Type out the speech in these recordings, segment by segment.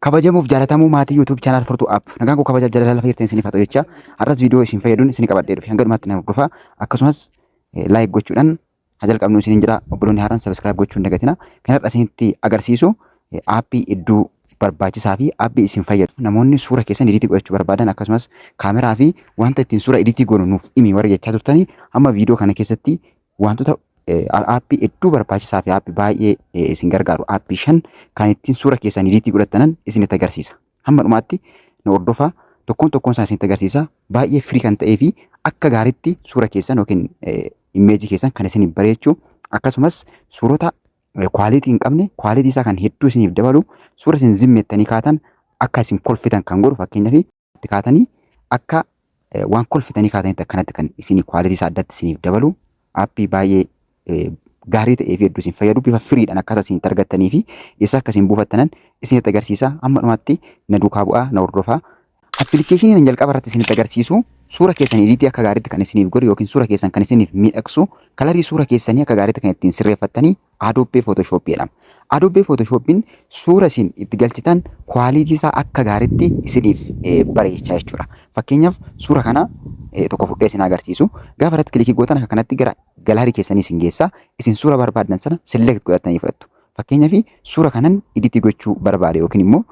Kabajamuuf jaalatamuu maatii YouTube channel Furtuu App. Nagaan koo kabajaaf jaalala lafa jirtan isiniif haa ta'u jecha har'as viidiyoo isin fayyaduun isin qabadhee dhufe hanga dhumaatti na hordofaa akkasumas like gochuudhaan haa jalqabnu isiniin jedha obboloonni haaraan subscribe gochuu hin dagatina kan har'a isinitti agarsiisu aappii iddoo barbaachisaa fi aappii isin fayyadu namoonni suura keessan ediitii godhachuu barbaadan akkasumas kaameraa fi wanta ittiin suura ediitii goonu nuuf himi warri jechaa turtanii amma viidiyoo kana keessatti Wantoota aappii hedduu barbaachisaa fi aappii baay'ee isin gargaaru aappii shan kan ittiin suura keessan idiitii godhattanan isinitti agarsiisa. Hamma dhumaatti nu hordofaa tokkoon tokkoon isaa isinitti agarsiisa. Baay'ee firii kan ta'ee fi akka gaariitti suura keessan yookiin immeejii keessan kan isin bareechu akkasumas suurota kwaalitii hin qabne kwaalitii isaa kan hedduu isiniif dabalu suura isin zimmettanii kaatan akka isin kolfitan kan godhu fakkeenyaaf itti kaatanii akka eh, waan kolfitanii kaatanitti akkanatti kan isin quality isaa addatti isiniif dabalu appii baay'ee eh, gaarii ta'ee fi hedduu isin fayyadu bifa firiidhaan akkaataa isin itti argattanii fi eessa akka isin buufattanan isinitti agarsiisa amma dhumaatti na duukaa bu'aa na hordofaa Appilikeeshinii nan jalqaba irratti isinitti agarsiisu suura keessan ediitii akka gaariitti kan isiniif godhu yookiin suura keessan kan isiniif miidhagsu kalarii suura keessanii akka gaariitti kan ittiin sirreeffattanii Adobe Photoshop jedhama. Adobe Photoshop'n suura isin itti galchitan quality isaa akka gaariitti isiniif bareecha jechuudha. Fakkeenyaaf suura kana tokko fudhee isin agarsiisu. Gaafa irratti kilikii gootan akka kanatti gara galaarii keessanii isin geessa. Isin suura barbaaddan sana select godhattanii fudhattu. Fakkeenyaaf suura kanan editii gochuu barbaade yookiin immoo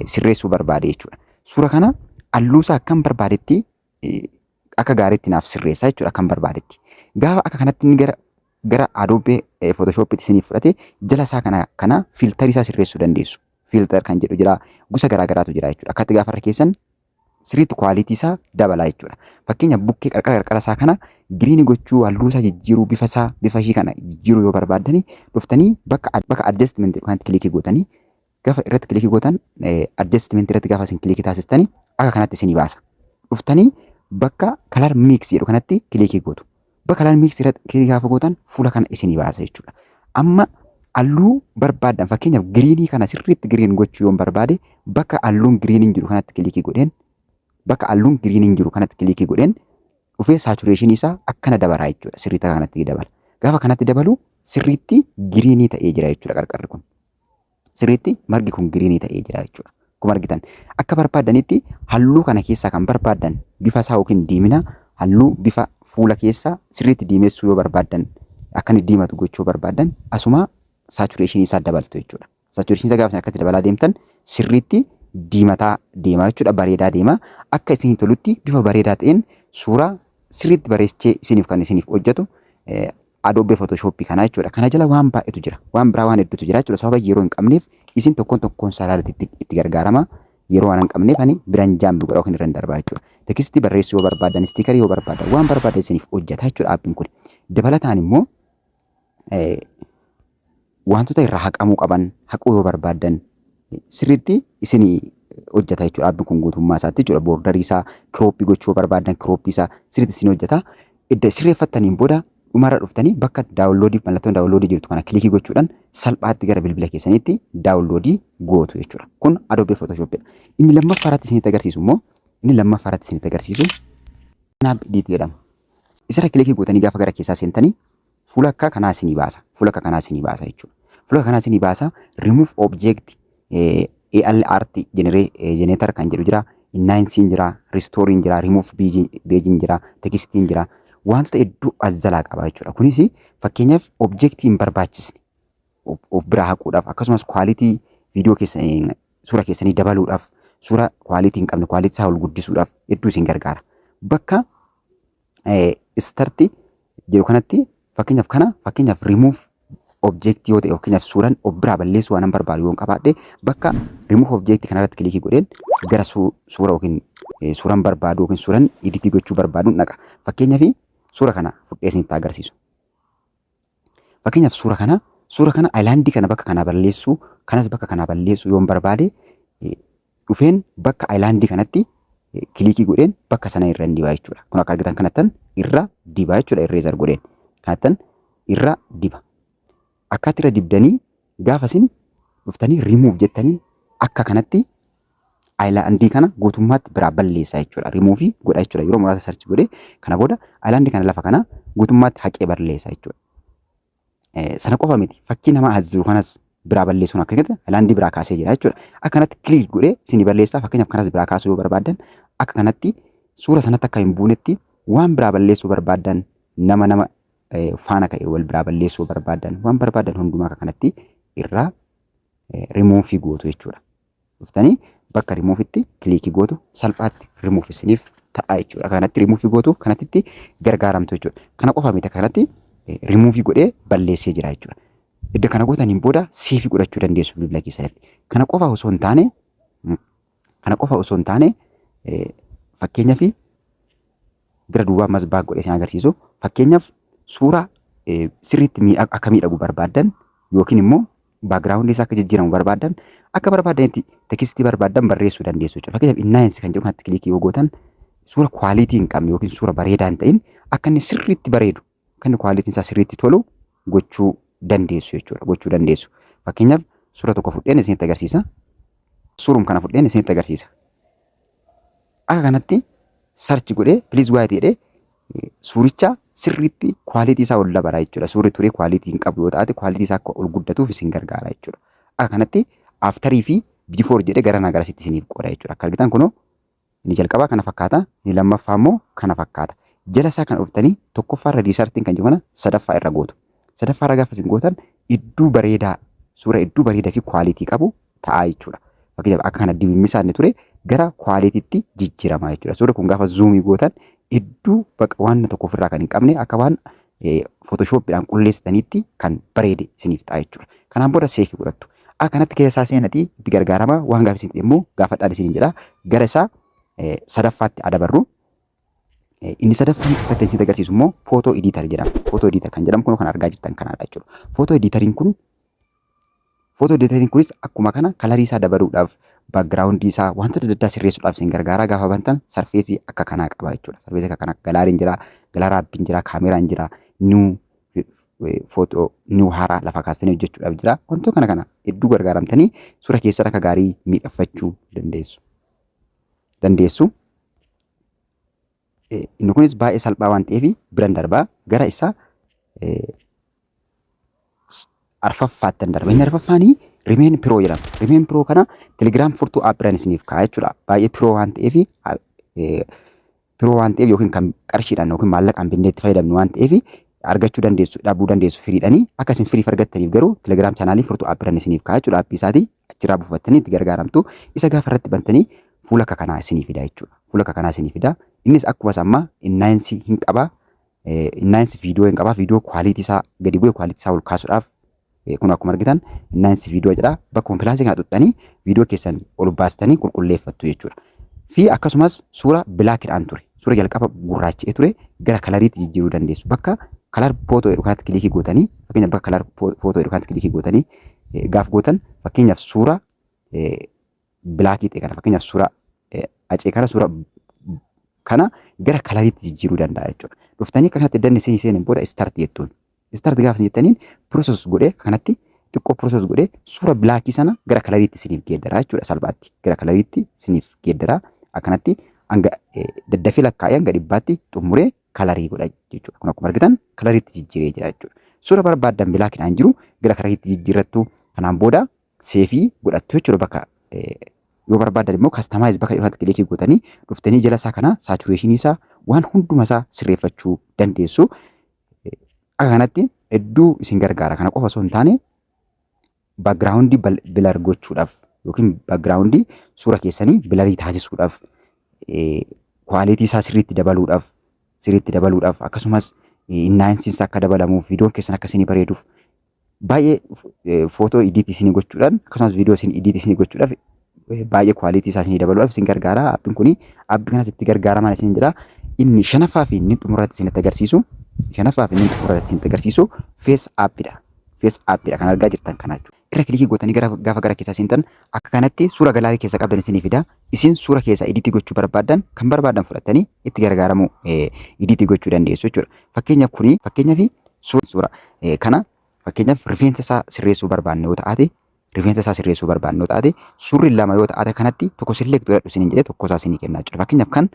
sirreessuu barbaade jechuudha. Suura kana halluusaa akkan barbaadetti akka gaariitti naaf sirreessaa jechuudha akkan barbaadetti. Gaafa akka kanatti inni gara gara Adobe Photoshop'tti isiniif fudhate jala isaa kana kana filtarii isaa sirreessuu dandeessu. Filter kan jedhu jira gosa garaa garaatu jira jechuudha. Akkatti gaafa irra keessan sirriitti kwaalitii isaa dabalaa jechuudha. Fakkeenya bukkee qarqara qarqara isaa kana giriinii gochuu halluu isaa jijjiiruu bifa isaa bifa ishii kana jijjiiruu yoo barbaaddani dhuftanii bakka bakka adjustment kanatti kilikii gootanii gafa irratti kilikii gootan adjustment irratti gafa isin kilikii taasistani akka kanatti isinii baasa. Dhuftanii bakka color mix jedhu kanatti kilikii gootu. Bakka color mix irratti kilikii gaafa gootan fuula kana isinii baasa jechuudha. Amma halluu barbaadan fakkeenyaaf giriinii kana sirriitti giriin gochuu yoon barbaade bakka halluun giriiniin jiru kanatti kilikii godheen bakka halluun giriiniin jiru kanatti kilikii godheen dhufee saatureeshinii isaa akkana dabalaa jechuudha. Sirriitti akka kanatti dabala. Gaafa kanatti dabalu sirriitti giriinii ta'ee jira jechuudha qarqarri kun. sirriitti margi kun giriinii ta'ee jira jechuudha. Akkuma argitan akka barbaaddanitti halluu kana keessaa kan barbaaddan bifa isaa yookiin diimina halluu bifa fuula keessaa sirriitti diimessuu yoo barbaaddan akka inni diimatu gochuu barbaaddan asuma saatureeshinii isaa dabaltu jechuudha. Saatureeshinii isaa gaafa akkatti dabalaa deemtan sirriitti diimataa deemaa jechuudha bareedaa deemaa akka isin tolutti bifa bareedaa ta'een suuraa sirriitti bareechee isiniif kan isiniif hojjetu Adobe Photoshop kana jechuudha. Kana jala waan baay'eetu jira. Waan biraa waan hedduutu jira jechuudha. Sababa yeroo hin qabneef isin tokkoon tokkoon isaa ilaalatti itti, itti gargaarama. Yeroo waan hin qabneef ani biran jaam godha yookiin irra hin darbaa jechuudha. Tekstii barreessuu yoo barbaaddan, istiikarii yoo barbaaddan, waan barbaaddan isiniif hojjeta jechuudha aappiin kun. Dabalataan immoo eh, Waantota irraa haqamuu qaban haquu yoo barbaaddan sirriitti isin hojjeta jechuudha. Aappiin kun guutummaa isaatti jechuudha. Boordarii isaa kirooppii gochuu yoo barbaaddan kirooppii isaa sirriitti isin hojjeta. Edda sirreeffattaniin booda dhumarra dhuftanii bakka daawunloodii mallattoon daawunloodii jirtu kana kilikii gochuudhaan salphaatti gara bilbila keessaniitti daawunloodii gootu jechuudha. Kun Adobe Photoshop dha. Inni lammaffaa irratti isinitti agarsiisu immoo inni lammaffaa irratti isinitti agarsiisu Snap Edit jedhama. Isarra kilikii gootanii gaafa gara keessaa seentanii Fuula akka kanaa isinii baasa. Fuula akka kanaa isinii baasa jechuudha. Fuula akka kanaa isinii baasa. Remove object AL art generator kan jedhu jira. Innaayinsiin jira. Ristooriin jira. Remove beejiin jira. Tekstiin jira. Wantoota hedduu as jalaa qaba jechuudha. Kunis fakkeenyaaf objektii hin barbaachisne of biraa haquudhaaf akkasumas kwaalitii viidiyoo keessan suura keessanii dabaluudhaaf suura kwaalitii hin qabne kwaalitii isaa ol guddisuudhaaf hedduu isin gargaara. Bakka istarti jedhu kanatti fakkeenyaaf kana fakkeenyaaf remove object yoo ta'e fakkeenyaaf suuraan of biraa balleessuu waan barbaadu yoon qabaadhe bakka remove object kanarratti kilikii godheen gara suura yookiin suuraan barbaadu yookiin suuraan editii gochuu barbaadu dhaqa. Fakkeenyaaf suura kana fudhee isinitti agarsiisu. Fakkeenyaaf suura kana suura kana ayilaandii kana bakka kanaa balleessuu kanas bakka kanaa balleessuu yoon barbaade eh, dhufeen bakka ayilaandii kanatti eh, kiliikii godheen bakka sana irra hin dibaa jechuudha. Kun akka argitan kanattan irra dibaa jechuudha irreezar godheen kanattan irra diba. Akkaatti irra dibdanii gaafa isin dhuftanii remove jettanii akka kanatti Ayilaandii kana guutummaatti biraa balleessaa jechuudha. Rimuufii godha jechuudha. Yeroo muraasa sarchi godhee kana booda ayilaandii kana lafa kana guutummaatti haqee balleessa jechuudha. Sana qofa miti fakkii nama as jiru kanas biraa balleessuun akka keessatti ayilaandii biraa kaasee jira jechuudha. Akka kanatti kiliik godhee isin balleessaa fakkeenyaaf kanas biraa kaasuu yoo barbaaddan akka kanatti suura sanatti akka hin buunetti waan biraa balleessuu barbaaddan nama nama faana ka'e wal biraa balleessuu barbaaddan waan barbaaddan hundumaa akka kanatti irraa rimuufii gootu jechuudha. dhuftanii bakka remove itti click gootu salphaatti remove isiniif ta'a jechuudha. Kanatti remove gootu kanatti itti gargaaramtu jechuudha. Kana qofa miti kanatti remove godhee balleessee jira jechuudha. Edda kana gootaniin booda save godhachuu dandeessu bilbila keessanitti. Kana qofa osoo hin taane kana qofa osoo hin taane fakkeenyaaf bira duubaa masbaak godhee isin agarsiisu. Fakkeenyaaf suuraa sirriitti miidhagu akka miidhagu barbaaddan yookiin immoo baakgiraawundii isaa akka jijjiiramu barbaaddan akka barbaaddanitti tekstii barbaaddan barreessuu dandeessu jechuudha. Fakkeenyaaf innaayinsi kan jedhu kanatti kilikii yoo gootan suura kwaalitii hin qabne yookiin suura bareedaa hin ta'in akka inni sirriitti bareedu akka inni kwaalitiin isaa sirriitti tolu gochuu dandeessu jechuudha. Gochuu dandeessu. Fakkeenyaaf suura tokko fudheen isinitti agarsiisa. Suurum kana fudheen isinitti agarsiisa. Akka kanatti search godhee please wait jedhee eh, suuricha sirriitti quality isaa ol dabala jechuudha. Suurri turee quality hin qabu yoo taate quality isaa akka ol guddatuuf isin gargaara jechuudha. Akka kanatti after fi before jedhee gara nagaa asitti isiniif qooda jechuudha. Akka argitan kunoo inni jalqabaa kana fakkaata, inni lammaffaa immoo kana fakkaata. Jala isaa kan dhuftanii tokkoffaa irra riisartiin kan jiru kana sadaffaa irra gootu. Sadaffaarra gaafa isin gootan idduu bareedaa suura idduu bareedaa fi kwaalitii qabu ta'aa jechuudha. Fakkeenyaaf akka kana dimimmisaa inni ture gara kwaaliitiitti jijjiiramaa jechuudha. Suurri kun gaafa zuumii gootan idduu baqa waan tokko ofirraa kan hin qabne akka waan footoshooppiidhaan qulleessitaniitti kan bareede isiniif ta'a jechuudha. Kanaan booda seefii godhattu. Akka kanatti keessa isaa seenatii itti gargaarama waan gaafa isin immoo gaafadhaan isiniin jedha gara isaa sadaffaatti adabarru Inni sadaffaan irratti isin agarsiisu immoo footoo ediitar jedhama. Footoo ediitar kan jedhamu kun kan argaa jirtan kanaadha jechuudha. Footoo ediitariin kun footoo ediitariin kunis akkuma kana kalarii isaa dabaluudhaaf baakgiraawundii isaa wantoota adda addaa sirreessuudhaaf isin gargaaraa gaafa bantan sarfeesii akka kanaa qaba jechuudha. Sarfeesii akka kanaa galaariin jira, galaaraa abbiin jira, kaameraan jira, nuu footoo nuu haaraa lafa kaastanii hojjechuudhaaf jira. Wantoota kana kana hedduu gargaaramtanii suura keessan akka gaarii miidhaffachuu dandeessu. dandeessu. Eh, Inni kunis baay'ee salphaa waan ta'eef biran darbaa gara isa eh, s- arfaffaattan darba. Inni arfaffaani rimeen piroo jedhama. Rimeen piroo kana telegiraam furtuu aappiran isiniif kaa'a jechuudha. Baay'ee piroo waan ta'eef biroo waan ta'eef yookiin kan qarshiidhaan yookiin maallaqaan binnee itti fayyadamnu waan ta'eef argachuu dandeessu dhabuu dandeessu firiidhanii akka isin firiif argattaniif garuu telegiraam chaanaalii furtuu aappiran isiniif kaa'aa jechuudha aappii isaatii achirraa buufattanii itti gargaaramtu isa gaafa irratti bantanii fuula akka kanaa isinii fida jechuudha fuula akka kanaa isinii fida innis akkuma sammaa innaayinsi hin qabaa Innaayinsi viidiyoo hin qabaa viidiyoo kwaaliitii isaa gadi bu'e kwaaliitii isaa ol kaasuudhaaf kun akkuma argitan innaayinsi viidiyoo jedha bakkuma pilaasii kana xuxxanii viidiyoo keessan ol baastanii qulqulleeffattu jechuudha. Fi akkasumas suura bilaakidhaan ture suura jalqaba gurraacha'ee ture gara kalariitti jijjiiruu dandeessu bakka kalar footoo jedhu kanatti kilikii gootanii fakkeenyaaf bakka kalar footoo jedhu kanatti kilikii gootanii gaaf gootan fakkeenyaaf suura bilaakii ta'e kana fakkeenyaaf suuraa eh, acee kana suuraa kana gara kalariitti jijjiiruu danda'a jechuudha. Dhuftanii akka kanatti danni isin seenan booda istaarti jettuun. Istaarti gaafa isin jettaniin pirooses godhee akka kanatti xiqqoo pirooses godhee suura bilaakii sana gara kalariitti isiniif geeddaraa jechuudha salphaatti. Gara kalariitti isiniif geeddaraa akkanatti hanga eh, daddafee lakkaa'ee hanga dhibbaatti xumuree kalarii godha jechuudha. Kun akkuma argitan kalariitti jijjiiree jira jechuudha. Suura barbaaddan bilaakiidhaan jiru gara kalariitti jijjiirrattu kanaan booda seefii godhattu jechuudha bakka yoo barbaadan immoo kastamaayis bakka irratti kilikii gootanii dhuftanii jala isaa kana saatureeshinii isaa waan hunduma isaa sirreeffachuu dandeessu. Akka kanatti hedduu isin gargaara kana qofa osoo hin taane baagiraawundii bilar gochuudhaaf yookiin baagiraawundii suura keessanii bilarii taasisuudhaaf kwaalitii isaa sirriitti dabaluudhaaf sirriitti dabaluudhaaf akkasumas innaayinsiinsa akka dabalamuuf viidiyoon keessan akka isinii bareeduuf baay'ee footoo idiit isinii gochuudhaan akkasumas viidiyoo isin idiit isinii gochuudhaaf baay'ee kwaaliitii isaa isinii dabaluudhaaf isin gargaara. Appiin kun appii kanas itti gargaaramaan isin jedha. Inni shanaffaa fi inni xumurratti isinitti agarsiisu shanaffaa fi inni xumurratti isinitti agarsiisu fees appidha. Fees appidha kan argaa jirtan kana jechuudha. Irra kilikii gootanii gara gaafa gara keessaa seentan akka kanatti suura galaarii keessa qabdan isinii fida. isin suura keessaa idiitii gochuu barbaaddan kan barbaaddan fudhattanii itti gargaaramuu idiitii gochuu dandeessu jechuudha. Fakkeenyaaf kuni fakkeenyaaf suura kana fakkeenyaaf rifeensa isaa sirreessuu barbaadne yoo ta'ate rifeensa isaa sirreessuu barbaadne yoo ta'ate suurri lama yoo ta'ate kanatti tokko select godhadhu isiniin jedhee tokko isaa isinii kennaa jechuudha. Fakkeenyaaf kan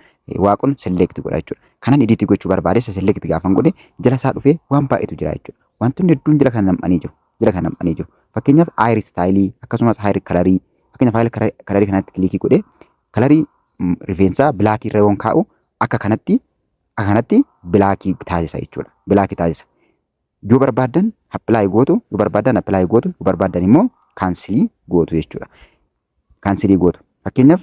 waaqon select godha jechuudha. Kanan idiitii gochuu barbaade isa select gaafan godhe jala isaa dhufee waan baay'eetu jira jechuudha. Wantoonni hedduun jala kana nam'anii jiru. jala kan nam'anii jiru. Fakkeenyaaf hair istaayilii akkasumas hair kalarii fakkeenyaaf hair kalarii kanatti kilikii godhee kalarii rifeensaa bilaakii irra yoon kaa'u akka kanatti akka kanatti bilaakii taasisa jechuudha. Bilaakii taasisa. Yoo barbaaddan appilaayi gootu yoo barbaaddan appilaayi gootu yoo barbaaddan immoo kaansilii gootu jechuudha. Kaansilii gootu. Fakkeenyaaf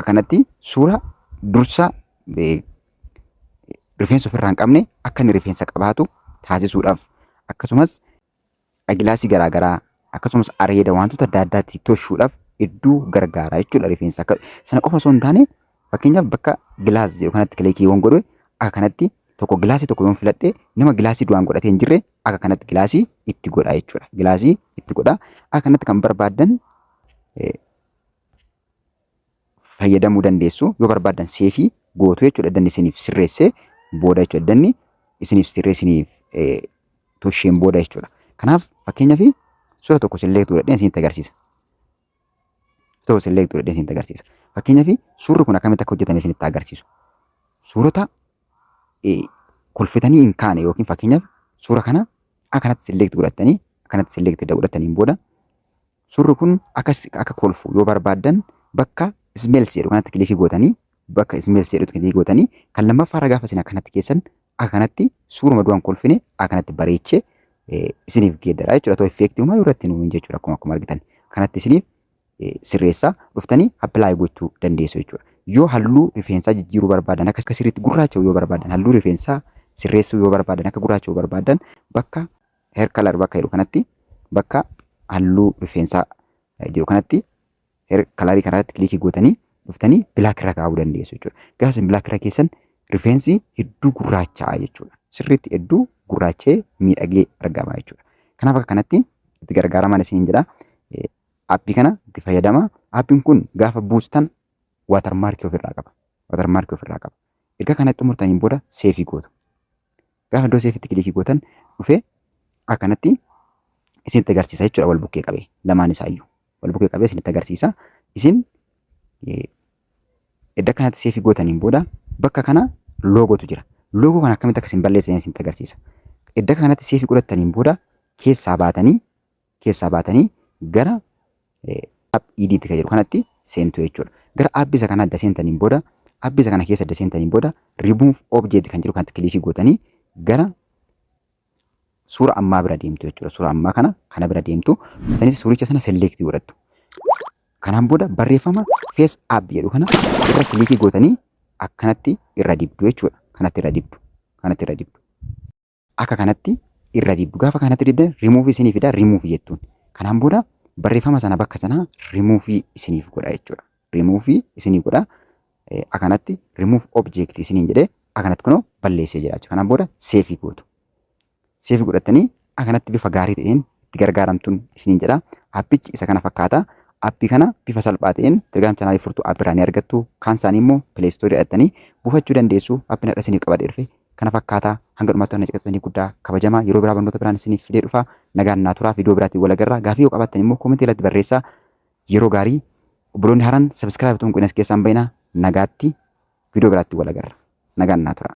Akkanatti suura dursa rifeensa ofirraa hin qabne akka inni rifeensa qabaatu taasisuudhaaf akkasumas agilaasii garaagaraa akkasumas areeda wantoota adda addaatti toshuudhaaf hedduu gargaara jechuudha rifeensa. Sana qofa osoo hin taane Fakkeenyaaf bakka gilaas jedhu kanatti kilikii yoon godhu akka kanatti tokko gilaasii tokko yoon filadhe nama gilaasii duraan godhatee hin jirre akka kanatti gilaasii itti godha jechuudha. Gilaasii itti godha. Akka kanatti kan barbaaddan fayyadamuu dandeessu. Yoo barbaaddan seefii gootu jechuudha. Danni isiniif sirreessee booda jechuudha. Danni isiniif sirreessiniif tosheen booda jechuudha. Kanaaf fakkeenyaaf suura tokko silleetu godhadheen isinitti agarsiisa. Ta'u select godhee isinitti agarsiisa. Fakkeenyaaf suurri kun akkamitti akka hojjetame isinitti agarsiisu. Suurota kolfitanii hin kaane yookiin fakkeenyaaf suura kana akkanatti select godhattanii akkanatti select edda godhattaniin booda suurri kun akka akka kolfu yoo barbaaddan bakka smells jedhu kanatti kilikii gootanii bakka smells jedhutti kilikii gootanii kan lammaffaa irra gaafa isin akkanatti keessan akanatti suuruma du'an kolfine akanatti bareechee eh, isiniif geeddara jechuudha. Too effeektii umaa irratti nuun jechuudha akkuma akkuma argitan. Kanatti isiniif eh, sirreessaa dhuftanii appilaayi gochuu dandeessu jechuudha. Yoo halluu rifeensaa jijjiiruu barbaadan akka sirriitti gurraacha'u yoo barbaadan halluu rifeensaa sirreessuu yoo barbaadan akka gurraacha'u barbaadan bakka hair color bakka jedhu kanatti bakka halluu rifeensaa eh, jedhu kanatti Her- Kalaarii kanarratti kilikii gootanii dhuftanii bilaak irra kaa'uu dandeessu jechuudha. Gaafa isin bilaak irra keessan rifeensi hedduu gurraacha'aa jechuudha. Sirriitti hedduu gurraacha'ee miidhagee argama jechuudha. Kanaaf akka kanatti itti gargaaramaan isiniin jedha. Eh, Aappii kana itti fayyadama. Aappiin kun gaafa buustan waatarmaarkii ofirraa qaba. Waatarmaarkii ofirraa qaba. Erga kana xumurtaniin booda seefii gootu. Gaafa iddoo seefitti kilikii gootan dhufee akkanatti isinitti agarsiisa jechuudha wal bukkee qabee lamaan isaayyuu wal bukkee qabee isinitti agarsiisa isin edda kanatti seefi gootaniin booda bakka kana loogotu jira loogoo kana akkamitti akka isin balleessan isinitti agarsiisa edda kanatti seefi godhattaniin booda keessaa baatanii keessaa baatanii gara app id itti kan jedhu kanatti seentu jechuudha. Gara app isa kana adda seentaniin booda app isa kana keessa adda seentaniin booda remove object kan jedhu kanatti kilikii gootanii gara suura ammaa bira deemtu jechuudha. Suura ammaa kana kana bira deemtu dhuftanitti suuricha sana select godhattu. Kanaan booda barreeffama face app jedhu kana irra kilikii gootanii akkanatti irra dibdu jechuudha. Kanatti irra dibdu. Kanatti irra dibdu. Akka kanatti irra dibdu. Gaafa kanatti dibdan remove isinii fida remove jettuun. Kanaan booda barreeffama sana bakka sanaa remove isiniif godha jechuudha. Remove isinii godha. Eh, Akanatti remove object isiniin jedhee akanatti kunoo balleessee jira jechuudha. Kanaan booda seefii gootu. Seefii godhattanii akanatti bifa gaarii ta'een itti gargaaramtuun isiniin jedha. Appichi isa kana fakkaata. Appii kana bifa salphaa ta'een Telegram chaanaalii furtuu appirraa ni argattu. Kaan isaanii immoo Play Store jedhattanii buufachuu dandeessu. Appiin har'a isiniif qabadhee dhufe kana fakkaata hanga dhumaatti waan na caqasitaniif guddaa kabajama yeroo biraa barnoota biraan isiniif fidee dhufa nagaan naa turaa viidiyoo biraatiin wal agarra gaafii yoo qabaattan immoo koomentii irratti barreessaa yeroo gaarii obboloonni haaraan sabiskiraayib tuun qunas keessaan bayina nagaatti viidiyoo biraatti wal agarra nagaan naa turaa.